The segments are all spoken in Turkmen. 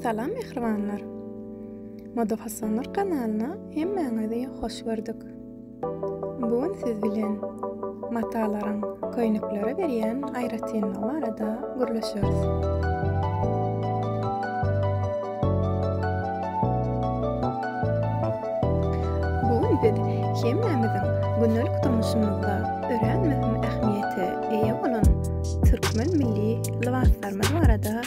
Salam mähribanlar. Moda fasonlar kanalyna hemmäňizi hoş gördük. Bu gün siz bilen matalaryň köýneklere berýän aýratynlygy barada gürleşeris. Bu gün biz hemmämiziň gündelik durmuşymyzda örän möhüm ähmiýete eýe bolan türkmen milli lybaslarymyz barada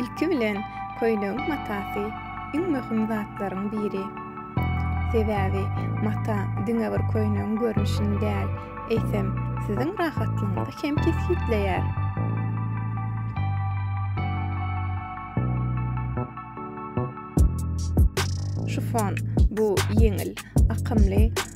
Ilki bilen köýnegiň matasy iň möhüm zatlaryň biri. Sebäbi mata diňe bir köýnegiň görnüşini däl, eýsem, siziň rahatlygyňyzy hem kesgitleýär. Şifon bu ýeňil, akymly,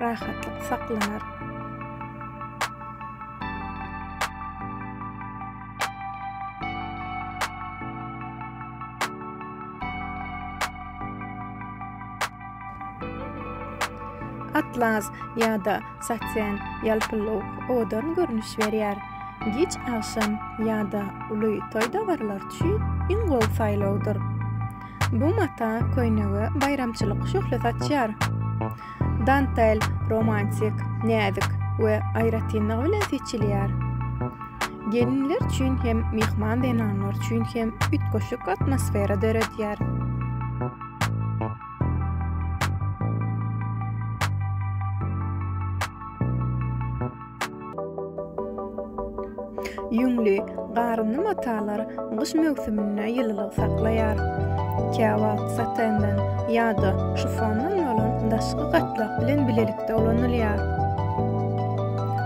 rahatlyk saklanar. atlas ýa-da saten ýalpyly owadan görnüş berýär. Giç agşam ýa-da uly toý dabarlar üçin iň gowy saýlawdyr. Bu mata köýnege baýramçylyk şöhle saçýar. Dantel romantik, näzik we aýratynlygy bilen seçilýär. Gelinler üçin hem, myhman zenanlar üçin hem üýtgeşik atmosfera döredýär. Ýüňli, garynly matalar gyş möwsüminde ýylylygy saklaýar. Käwagt satenden ýa-da şifondan bolan daşky gatlak bilen bilelikde ulanylýar.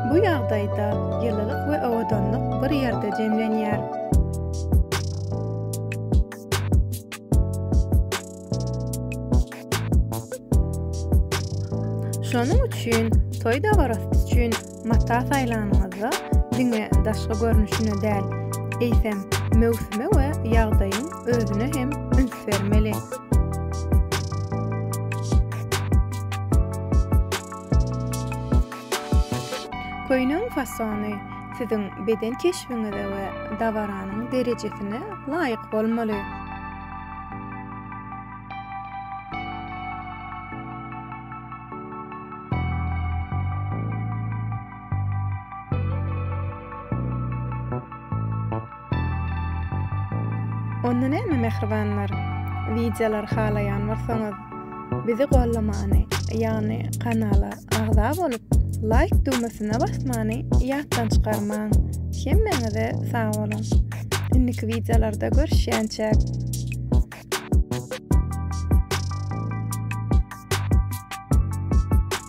Bu ýagdaýda ýylylyk we owadanlyk bir ýerde jemlenýär. Şonuň üçin toý dabarasy üçin mata saýlanyňyzda diňe daşky görnüşine däl, eýsem, möwsüme we ýagdaýyň özüne hem üns bermeli. Köýnüň fasony siziň beden keşbiňize we dabaranyň derejesine laýyk bolmaly. Onda näme mähribanlar? Wideolar halaýan bolsaňyz, Bizi gollamany, ýagny kanala agza bolup, laýk düwmesine basmany ýatdan çykarmaň. Hemmäňize sag boluň. Indiki wideolarda görüşýänçäk.